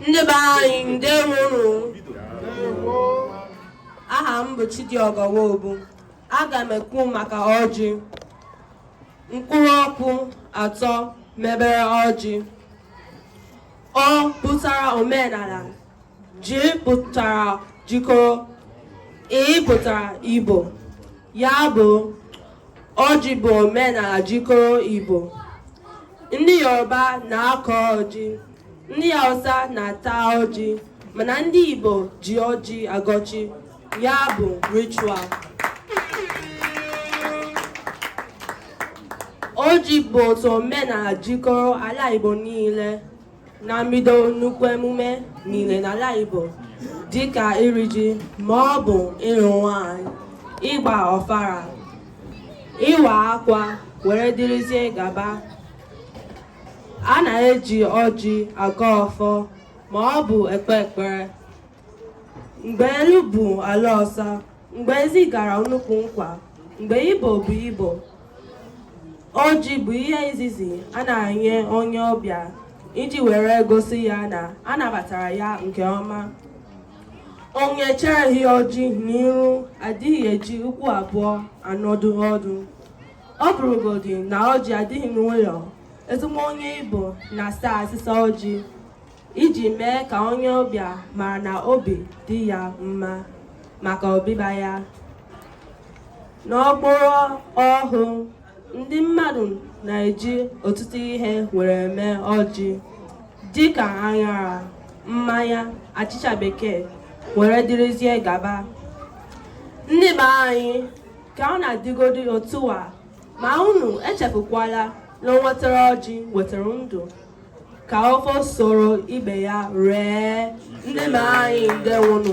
ndị be anyị ndewonụ aha m bụ Chidiogo Nwobu aga m ekwu maka ọjị mkpụrụ okwu atọ mebere ọjị ọ pụtara omenala J pụtara jikọrọ, I pụtara Igbo. Ya bụ, ọjị bụ omenala jikọrọ Igbo. Ndị Yoruba na-akọ ọjị, ndị Hausa na-ata ọjị, mana ndị Igbo ji ọjị agọ chi. Ya bụ ritual. Ọjị bụ otu omenala jikọrọ ala Igbo niile. na mbido nnukwu emume niile n'ala Igbo dịka iri ji ma ọ bụ ịrụ nwanyị ịgba ọfara ịwa akwa were dịrịzie gaba a na-eji ọjị agọ ọfọ ma ọ bụ ekpe ekpere mgbe elu bụ ala ọsa mgbe ezi gara n'ukwu ụkwa mgbe Igbo bụ Igbo ọjị bụ ihe izizi a na-enye onye ọbịa iji were gosi ya na a nabatara ya nke ọma onye e cheghị ọjị n'iru adịghị eji ụkwụ abụọ anọdụ ọdụ ọ bụrụgodị na ọjị adịghị n'ụlọ ezigbo onye Igbo na-asa asịsa ọjị iji mee ka onye ọbịa mara na obi dị ya mma maka ọbịbịa ya n'ọgbara ọhụụ ndị mmadụ na-eji ọtụtụ ihe were eme ọjị dịka aṅara mmanya achịcha bekee were dịrịzie gaba ndị be anyị ka ọ na-adịgodi otu a ma unu echefukwala na onye wetara ọjị wetara ndụ ka ọfọ soro ibe ya ree ndị be anyị ndewonụ